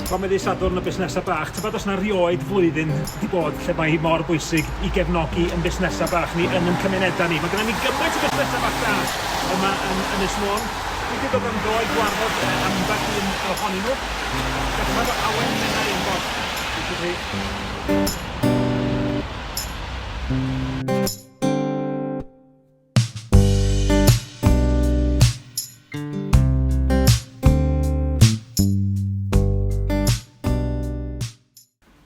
Comedi Sadwrn y Busnesau Bach. Tybed os na rioed flwyddyn wedi bod lle mae hi mor bwysig i gefnogi yn busnesau bach ni yn yn cymunedau ni. Mae gyda ni gymaint o busnesau bach da yma yn Ynys Môn. Dwi wedi dod am dro i gwarfod ambell un ohonyn nhw. Dechrau fo Awen Menai yn bod. Diolch i chi.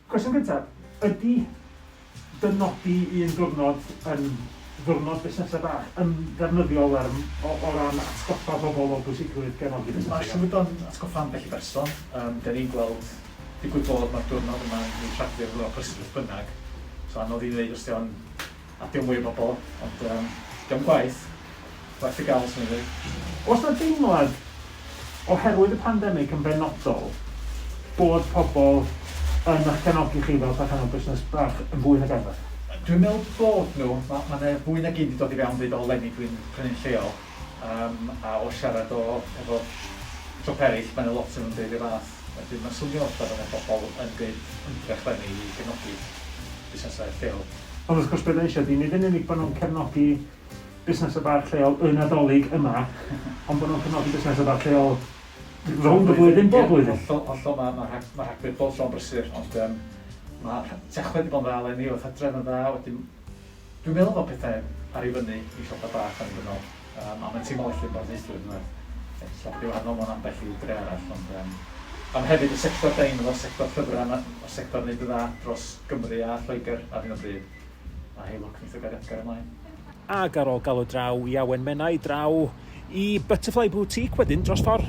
Cwestiwn cyntaf, ydy dynodi un diwrnod yn ddiwrnod busnesau bach yn ddefnyddiol ar o o ran atgoffa pobl o bwysigrwydd gefnogi busnesau? Mae'r llwyfan atgoffa ambell i berson, yym, 'den ni'n gweld, digwydd bod, mae'r diwrnod yma'n cael ei traddio efo prysurdeb beth bynnag, so anodd i ddeud os 'di o'n A dim mwy o bobl, ond yym, dio'm gwaeth, werth y gael, swn i'n dweud. Oes 'na deimlad, oherwydd y pandemig yn benodol, bod pobl yn eich cefnogi chi fel perchennog busnes bach yn fwy nag arfer? Dwi'n meddwl bod nhw, ma' ma' 'na fwy nag un 'di dod i fewn deud o leni dwi'n prynu'n lleol, yym a o siarad o efo siop eraill ma' 'na lot o nhw'n deud yr un fath. Wedyn mae'n swnio fatha bod 'na bobl yn gwneud ymdrech leni i gefnogi busnesau lleol. Ond wrth gwrs be dan ni eisiau ydy nid yn unig bod nhw'n cefnogi busnesau bach lleol y Nadolig yma ond bod nhw'n cefnogi busnesau bach lleol rownd y flwyddyn, bob blwyddyn. Ie, hollol, hollol, mae ma' rhag- ma' rhagfyr bob tro'n brysur ond yym ma' rha- Tachwedd 'di bod yn dda eleni, o'dd Hydref yn dda, wedyn Dwi'n meddwl fod pethau ar ei fyny i siopa bach annibynnol, um, a mae'n teimlo well i'r barneithwyr yn werth. Ella bod ei wahanol mewn ambell i dre arall, ond um, am hefyd y sector da ni'n o'r sector llyfrau, o'r sector wneud y dda dros Gymru a Lloegr ar hyn o bryd. A hei lwc wneud o gael Edgar ymlaen. Ac ar ôl galw draw i Awen Menai, draw i Butterfly Boutique wedyn dros ffordd.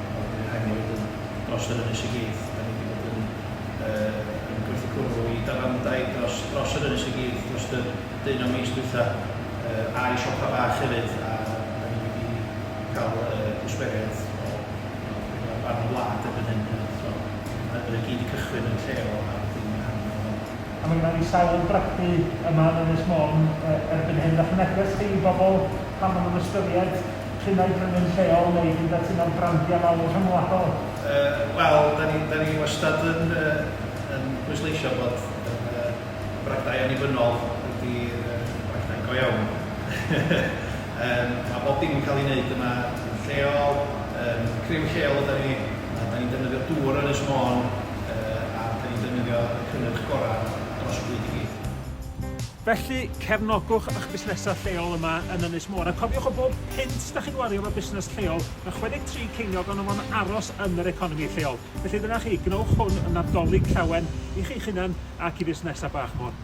Wel, mi rhaid ni fod yn dros yr ynys i gyd. Da ni 'di bod yn yy yn gwrthgwrw i dafarndai dros dros yr ynys i gyd drost y deunaw mis dwytha, yy a'i siopa bach hefyd, a da ni wedi ca'l yy gwsmeriaid o o bedwar rhan o'r wlad erbyn hyn yy so ma' hynny i gyd 'di cychwyn yn lleol a wedyn ma' rhan yna o weld. A ma' gynna ni sawl brathu yma yn Ynys Môn yy erbyn hyn, 'dach chi'n edrych chi i bobl pan ma' nhw'n ystyried P'un ai brynwyr lleol neu hyd at un o'r brandiau mawr rhyngwladol? Yy wel, 'da ni 'da ni wastad yn yy yn pwysleisio bod yr yy y bragdau annibynnol ydi yy bragdau go iawn. Yym ma' bob dim yn ca'l 'i neud yma yn lleol, yym criw lleol ydan ni, a 'dan ni'n defnyddio dŵr Ynys Môn yy a 'dan ni'n defnyddio y cynnyrch gora' dros y byd i gyd. Felly, cefnogwch eich busnesau lleol yma yn Ynys Môn, a cofiwch o bob punt da chi'n wario efo busnes lleol, mae 63 ceiniog ohono fo'n aros yn yr economi lleol. Felly dyna chi, gwnewch hwn yn Nadolig llawen i chi'ch hunan ac i fusnesau bach Môn.